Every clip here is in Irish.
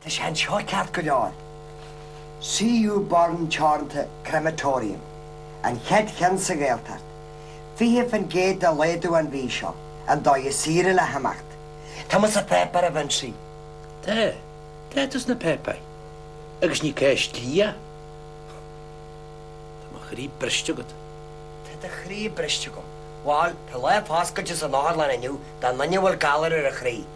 Tá sé anseo ceart go leor. CU Burn Teoranta Crematorium, an chéad cheann sa Ghaeltacht. 20 fán gcéad de laghdú an mhí seo, an dóigh is saoire le himeacht. Tá muid sa pháipéar a Vincie. Tá, tá tú sa pháipéar. Agus ní ceist dlí é. Tá mo chroí briste agat. Tá do chroí briste agam. Bhal, tá lá foscailte san otharlann inniu do dhuine a bhfuil galar ar a chroí.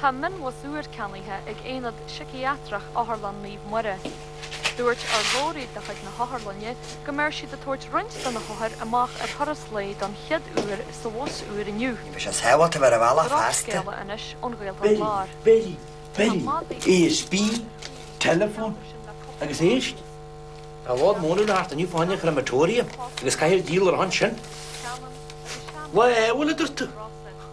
Tá mionbhus úr ceannaithe ag Aonad Siciatrach Otharlann Naomh Muire. Dúirt urlabhraí de chuid na hotharlainne go mbeidh siad ag tabhairt roinnt de na hothair amach ar thuras lae don chéad uair sa bhus úr inniu. Ní bheidh sé sábháilte bheith ar an bhealach feasta. Drochscéala anois ón Ghaeltacht Láir. Bill, Bill, Bill, ASB, Telephone, agus éist. Tá bád móna le thart inniu fáinne a chur i mBritoria agus caithfear díol a raibh ansin. Lá Fheabhail, a dúirt tú?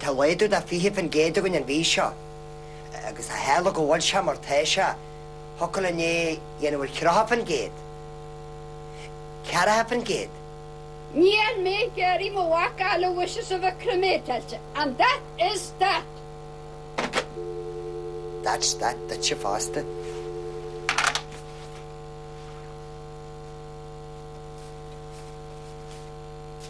Tá laghdú de 20% againn an mhí seo agus ó tharla go bhfuil sé mar atá sé, thiocfadh le 9.3%, 4%. Níl mé ag iarraidh mo mhac a labhairt as a bheith cremateáilte, and that is that. That's that duitse fosta.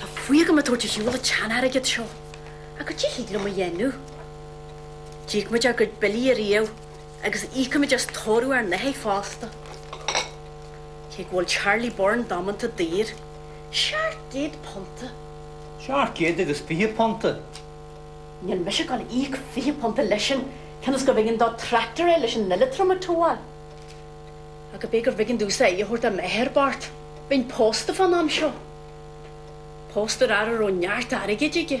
Tá fuath agam a bheith ag tabhairt ar shiúl an tsean-airgid seo, ach goidé a thig liom a dhéanamh. D'íoc muid ár gcuid billí ariamh agus íocfaimid as tórramh ár n-athar fosta. Cé go bhfuil Charlie Burn damanta daor, seacht gcéad punta. Seacht gcéad agus fiche punta. Níl mise ag gabháil a íoc fiche punta leisean cionn is gurbh éigean dó tractor a fháil leis an eileatram a towáil. Ach ab é gurbh éigean domhsa aire a thabhairt do m'athair bocht, bheinn pósta fán am seo. Pósta ar fhear a raibh neart airgid aige.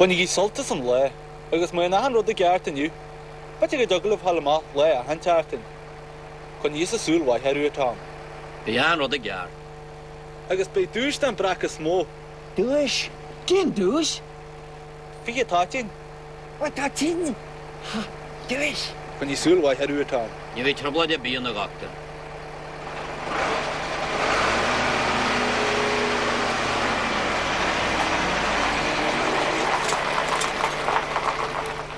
Bainigí sult as an lae, agus mura n-aithin rud i gceart inniu, beidh ag d'agallaimh thall amach lae a aithint, Artain. Coinneoidh mise súil mhaith ort. Beidh an rud i gceart. Agus beidh duais don bhreac is mó. Duais? Cén duais? Fiche toitín. Ó, toitín! Ha! Duais! Coinneoidh mise súil mhaith ort. Ní bheidh trioblóid ar bith ann a dhochtúir.